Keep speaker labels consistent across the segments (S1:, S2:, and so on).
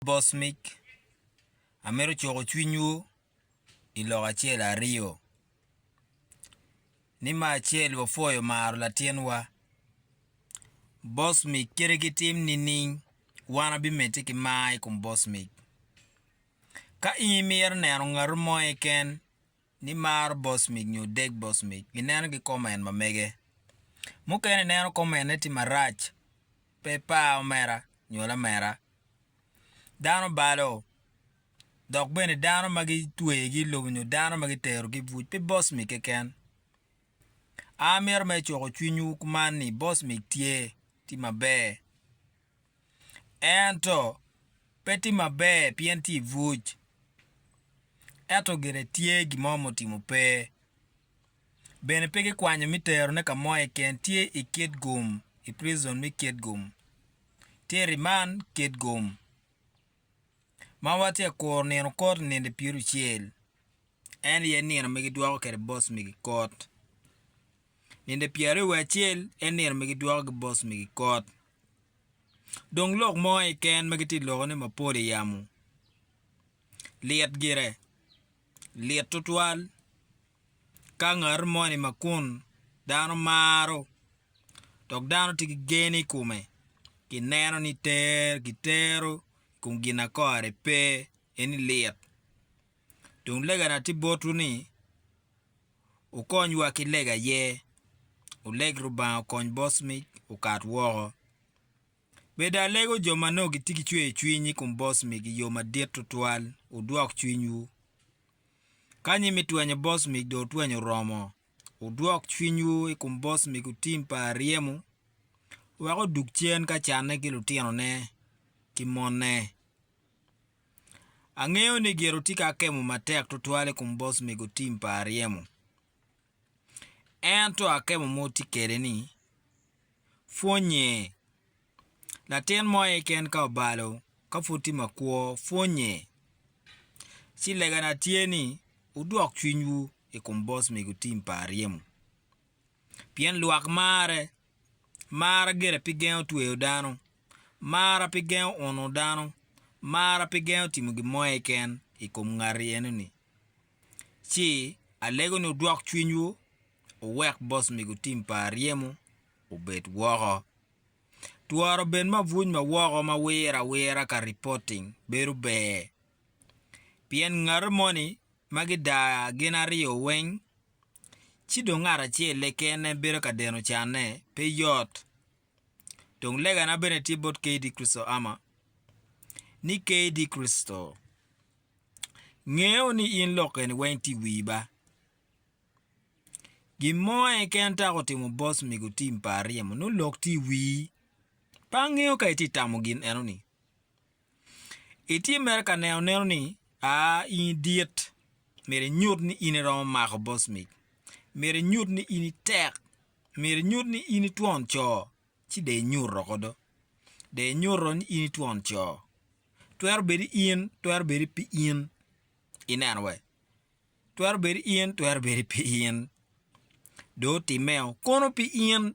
S1: Bosmic, amito cuko cwinywu i lok acel aryo. Ni me acel wapwoyo maro latinwa Bosmic kite ki tim nining? Wan wabimedde ki mar i kom Bosmic. Ka in imito neno ngatu mo keken ni maro bosmic nyo deg bosmic, gineno ki kom en mamege. Mukene ineno kom enne tye marac, pe ipar omera nyo lamera. Dano balo, dok bene dano ma gitwegi i lobo nyo dano ma gitero ki i buc pe bosmic keken. A Amito ma icoko cwinywu kuman ni bosmic tye, tye maber. ento pe tye maber pien tye i buc ento gire tye gin mo ma otimo pe bene pe gikwanyo me terone ka mo keken tye i kitgum i prison me kitgum tye i remand kitgum ma watye ka kuru nino koti nino pyericel en aye nino ma gidwoko kwede boss migi kot nino pyeraryo wiye acel en nino ma gidwoko ki boss migi kot. Dong lok mo aye ken ma gitye ka loko ni mapol i yamo. Lit gire. Lit tutwal ka ngat moni ma kun dano maro dok dano tye ki gen i kome kineno ni ter gitero i kom gin ma kore pe eni lit. Dong legana tye botwu ni, wukonywa ki lega aye, wuleg Rubanga okony boc mic okat woko. Beda alego jo ma nongo gitye ki cweyo cwiny i kom boc mic i yo madit tutwal, wudwok cwinywu. Ka nyi me twenyo boc mic dong otwenyo oromo, wudwok cwinywu i kom boc mic otim pa aryemo wek odug cen ka canne ki lutinone ki monne. Angeyo ni gire otye ka kemo matek tutwal i kom bos mego tim pa Aryemo. Ento akemo ma otye kwede ni, pwonnye. Latin mo aye keken ka obalo ka pud tye makwo, pwonnye. Ci legana tye ni, wudwok cwinywu i kom bos mego tim pa Aryemo. Pien lwak marre, marra gire pi gengo tweyo dano, marra pi gengo uno dano, marra pi gengo timo gin mo keken i kom ngati eno-ni. Ci alego ni wudwok cwinywu, wuwek bos mego tim pa aryemo obed woko. Tworo bed ma abuc ma woko ma wire awira ka reporting bedo ber. Pien ngati moni ma gidaa gin aryo weng ci dong ngat acel-le kene en bedo ka deno canne pe yot. Dong legana bene tye bot KD Kristo ama, ni KD Kristo ngeyo ni in lok eni weng tye i wii ba. Gin mo en kene taka otimo bos mego tim pa aryemo nongo lok tye i wii, pe angeyo ka itye tamo gin eno ni. Itye mere ka neno neno ni a in idit. Myero inyut ni in iromo mako bos mic. Myero inyut ni in itek. Myero inyut ni in itwon co, ci dong inyuto kodo. Dong inyuto ni in itwon co. Twero bedo in, twero bedo pi in. Ineno we? Twero bedo in, twero bedo pi in. Dong otimmeo kunu pi in.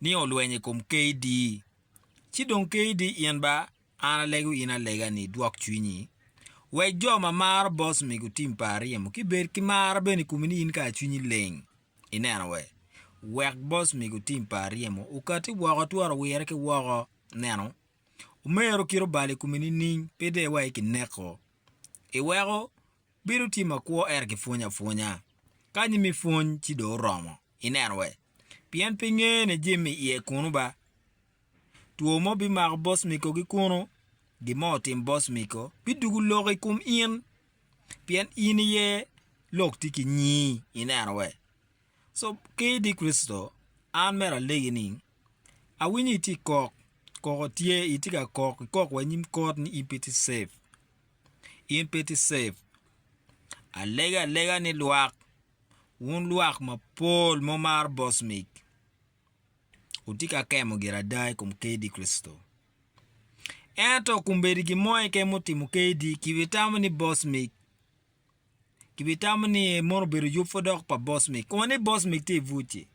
S1: ni olweny i kom KD, ci dong KD in ba an alego in alega ni idwok cwinyi. Wek jo ma maro boss mi gutim pa aryemo ki bed ki mar bene i komi ni in kara cwinyi leng. Ineno we? Wek boss mi gutim pa aryemo okati woko twero wire ki woko. Neno? Omero kit obalo i komi nining? Pe de wa i kineko. Iweko Bedo tye makwo ento kipwonyo apwonya. Ka anyi me pwony ci dong oromo. Ineno we? Pien pe ingeye ni Jim i iye kunu ba. Two mo bimako boss Miko gi kunu. Gin mo otim boss Miko bidugu lok i kum in. Pien in iye lok tye ki nyii. Ineno we? So, ki idi Kricito, an mera alegi ni, Awinyo itye ikok, koko tye, itye ka kok, ikok wa inyim kot ni in pe itye safe. in pe ti save. Alego alega ni lwak, wun lwak mapol mumaro bosmik, wutye ka kemo gire ada i kom kdi Kricito. Ento kumbedi gin mo keken mutimo kdi, kibitamo ni bosmik, kibitamo ni mono obedo yub pud dok pa bosmik, koma ni bosmik tye i buc-ci.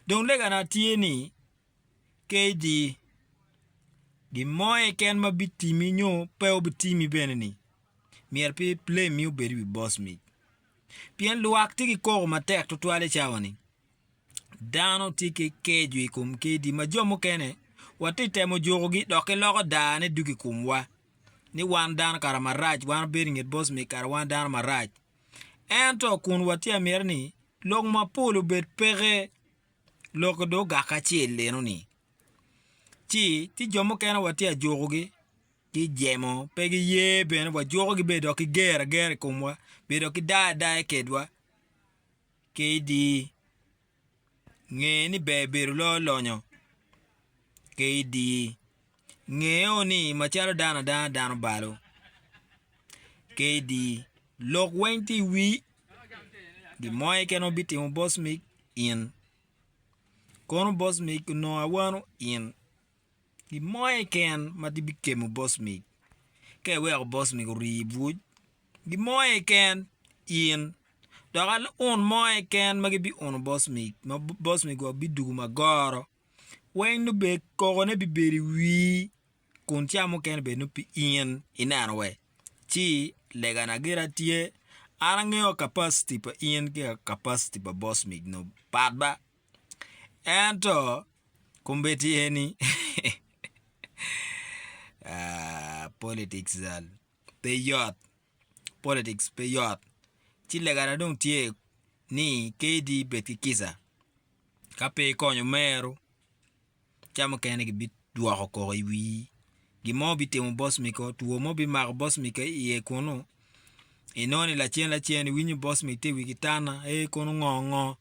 S1: Dong legana tye ni, KG, Gin mo keken ma bitimi nyo pe obitimi bene-ni, myero pe iblemi obed i wi bos mic. Pien lwak tye ki koko matek tutwal i cawa-ni. Dano tye ki keco i kom kedi ma jo mukene watye ka temo jukogi dok giloko darane dwogo i komwa ni wan dano kara marac, wan wabedo i nget bos mic kara wan dano marac. Ento kun watye ka miti ni lok mapol obed peke, Lok dong ogak acel enoni, ci tye jo mukene watye ka jukogi ki jemo, pe giye bene, wajukogi bene dok ki ger agera i komwa, bedo ki dayo adaya kedwa ki idi nge ni ber bedo loyo lonyo ki idi. Ngeo ni macalo dano adanga dano balo, kdi lok weng tye i wii, gin mo keken ma bitimo boss mig in, kono boss mig onongo awano in, gin mo keken ma tye bikemo boss mig, ka iweko boss mig orii ibwuc gin mo keken in, dok un mo keken ma gibi uno boss mig ma boss mig wa bidwogo magoro weng nubed kokone bibedo i wii kun ca mukene bed nongo pi in ineno we ci legana gire tye an angeyo capacity pa in ki capacity pa boss mig nub pat ba ento kombeddi eni politics zal pe yot politics pe yot ci legana dong tye ni KD bed ki kica Ka pe ikonyo meru, ca mukene gibidwoko koko i wii. Gin mo bitimo boss mi ko, two mo bimako boss mi ka iye kunu. Inongo ni lacen lacen iwinyo boss mi te wigi tana, ee kono ngo ngo.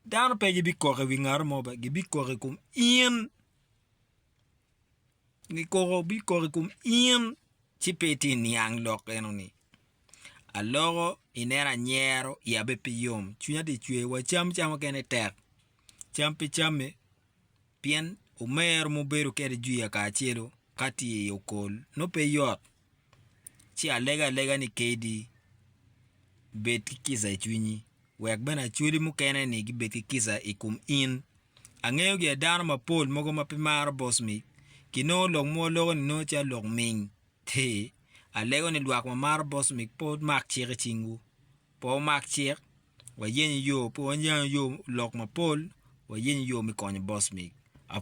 S1: Dano pe gibikok i wi ngati mo bene, gibikok i kom in. Kikoko bikok i kom in, ci pe itye niang lok enoni. Aloko, ineno anyero, iya bene pe yom, cwinya tye cwer, wa cam cam mukene tek, cam pe camme, pien omero ma wubedo kwede jwiya kacelu ka tye i okol nongo pe yot. ci alego alega ni kadi bed ki kica i cwinyi wek bene acholi mukene-ni gibed ki kica i kom in. Angeyo gia dano mapol mogo ma pe maro boss mic ki nongo lok mogo loko ni nongo calo lok ming. Ti, alego ni lwak ma maro boss mic pe wumak cik i cingwu. Pe wumak cik, wayenyo yo, pe wayenyo yo lok mapol, wayenyo yo me konyo boss mic.